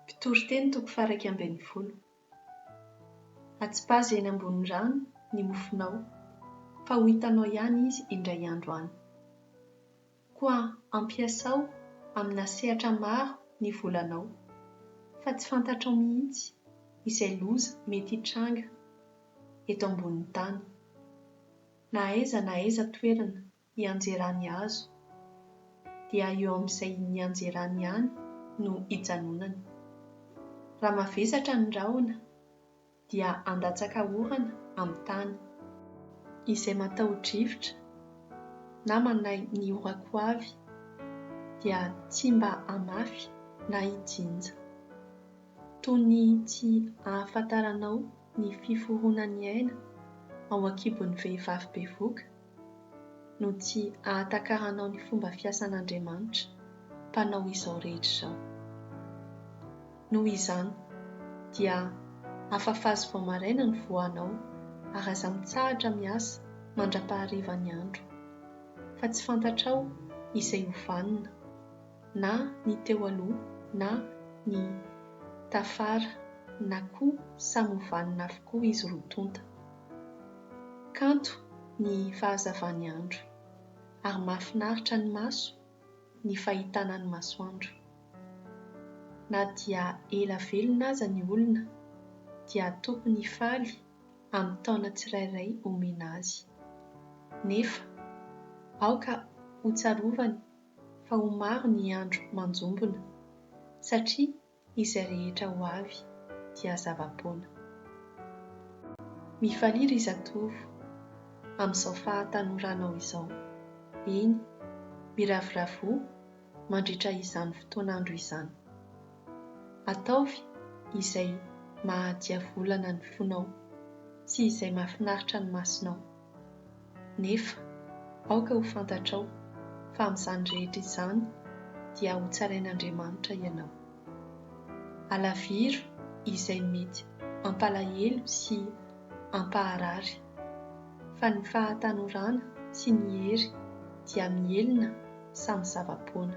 Mpitoriteny toko faharaika ambin'ny folo. Atsipazo eny ambony rano ny mofonao, fa ho hitanao ihany izy indray andro any. Koa ampiasao amina sehatra maro ny volanao, fa tsy fantatrao mihitsy izay loza mety hitranga eto ambonin'ny tany, na aiza na aiza toerana hianjerany azo, dia eo amin'izay nianjerany ihany no hijanonany. Raha mavesatra ny rahona, dia handatsaka orana amin'ny tany. Izay mataho-drivotra na manahy ny orako ho avy, dia tsy mba hamafy na hijinja. Toy ny tsy ahafantaranao ny fiforonan'ny aina ao an-kibon'ny vehivavy bevoka? no tsy ahatakaranao ny fomba fiasan'Andriamanitra, Mpanao izao rehetra izao. Noho izany, dia afafazo vao maraina ny voanao, ary aza mitsahatra miasa mandra-paharivan'ny andro, fa tsy fantatrao izay ho vanona. na ny teo aloha na ny tafara na koa samy ho vanona avokoa izy roa tonta. Kanto ny fahazavan'ny andro ary mahafinaritra ny maso ny fahitana ny masoandro. Na dia ela velona aza ny olona dia tokony hifaly amin'ny taona tsirairay omena azy. Nefa aoka hotsarovany fa ho maro ny andro manjombona, satria izay rehetra ho avy dia zava-poana. Mifalia ry zatovo amin'izao fahatanoranao izao, eny, miravoravoa mandritra izany fotoan'andro izany. Ataovy izay maha-diavolana ny fonao sy izay mahafinaritra ny masonao. Nefa, aoka ho fantatrao fa amin'izany rehetra izany dia hotsarain'Andriamanitra ianao. Alaviro izay mety hampalahelo sy hampaharary, fa ny fahatanorana sy ny hery dia mihelina samy zava-poana.